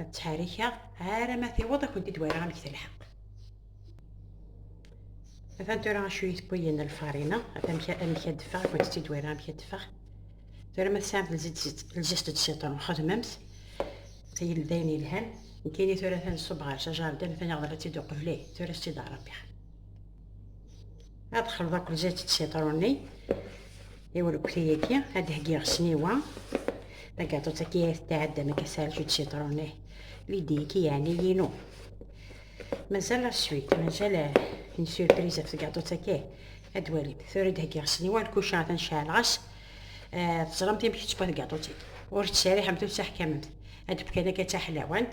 ad ttḥerrikeɣ ara ma tiweḍ ad kent-id wariɣ amek telḥeq atan tura acu yitewwiyen lfarina atan amek ad d-ffeɣ ad kent-id wariɣ amek ad d-ffeɣ tura ma tesɛamt lzist d siṭron xedmemt tayil d ayen yelhan nekkini tura atan ṣub ɣer s ajardan atan yeɣḍel ad tt-id uqbel tura s-tt-id aṛebbiɣ ad xelḍ akk zat d sitṛuni i urekti-agi ad d-heggiɣ sniwa tagaṭut-agi ay tetɛeddam akka serju d sitṛuni lidi-agi yeɛni yinu mazal la suit mazal une surprise ɣef tagaṭut-agi ad walim tura ad d-heggiɣ sniwa lkuca ad nceɛleɣ-as teẓramt amek tettwa tagaṭut-agi ur tettserriḥemt ur tettaḥkamemt ad d-fkan akka d taḥlawant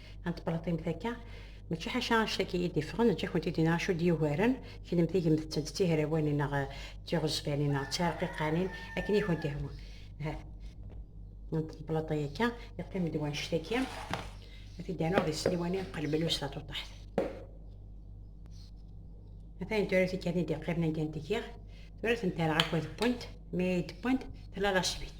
Ant teblaṭimt akka, mačči ḥaca anect akka i d-iffɣen, neǧǧa-kent i d-iniɣ acu d-yugaren, kennemti gemt-tent d tihrawanin neɣ d tiɣezfanin neɣ d tirqiqanin, akken i kent-ihwa. Ahat ant teblaṭi akka, yeqqim-d wanect aki, ad t-id-rnuɣ di Sliwani, qelbelus tatuṭaḥt. Atayen tura tikkatin d-iqqimen anda n-tgiɣ, tura tent-rreɣ akk ad wwent, mi ay d-wwent, tella la sbit.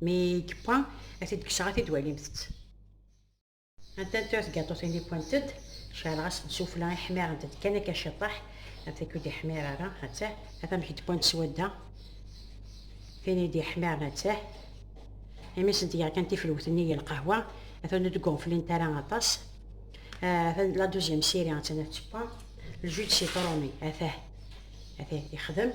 Mi yewwa, ad t-id-kkseɣ, ad t-id-walimt-t. Anta n tuyat gaṭutin yewwant-d, ceɛleɣ-as n sufla i ḥmirent-d kan akka ciṭṭaḥ, af tak ur d-iḥmir ara, attah, af amek i d-wwant swadda, tin i d-iḥmiren attah, imi sent-geɣ kan tifelwet-nni i lqahwa, atan ur d-gguflint ara aṭas, atan la duziyam siri, attan af tewwa, ljuj sitruni, attah, attah, ixdem.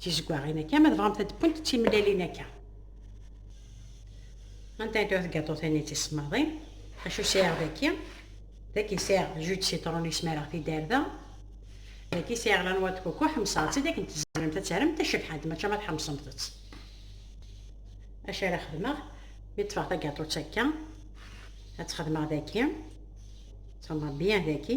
tizeggaɣin akka ma tebɣamt ad d-wwent d timellalin akka anta ay tuɣ tgaṭutin-nni d tisemmaḍin acu sɛiɣ daki daki sɛiɣ jus de citron i smareɣ tiderda daki sɛiɣ la noix de coco ḥemseɣ-tt-id akken tzemremt ad terremt tacebḥant maca ma tḥemsemt-tt acu ara xedmeɣ mi ṭṭfeɣ tagaṭut akka ad txedmeɣ daki ttxemmeɣ byan daki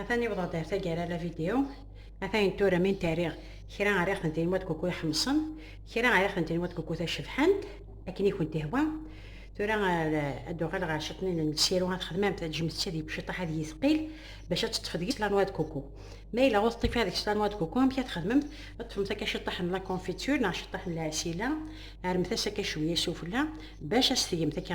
atan iwḍa-d ar taggara la vidéo atan tura mi n-terriɣ kra ara ixen tin wat kuku iḥemṣen kra ara ixen tin wat kuku tacebḥant akken i kent-ihwa tura ad d-uɣal ɣer ciṭnin n lsiru ad xedmam taǧemt-tt ad yebciṭaḥ ad yithqil bac ad teṭṭef deg-s lanwa d kuku ma yella ur teṭṭif deg-s lanwa d kuku amek ad txedmemt ad teṭṭfemt akka ciṭṭaḥ n la confiture neɣ ciṭṭaḥ n lɛesila armet-as akka cwiya sufella bac ad s-tgemt akka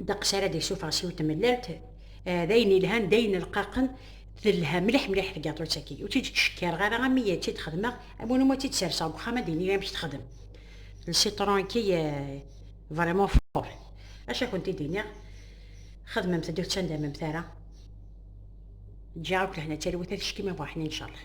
ddeqs ara d-yessufeɣ s yiwet tmellalt eh, d ayen yelhan d ayen rqaqen telha mliḥ mliḥ tgaṭut-agi ur tt-id-ttcekkareɣ ara am i tt-id-xedmeɣ am win umi tt-id-serseɣ deg uxxam ad d-iniɣ amek texdem lsitron-agi vraiment eh, fort acu ad kent-id-iniɣ xedmemt-d ur ttandammt ara ǧǧiɣ akk lehna d talwit ad teckim a buḥni incallah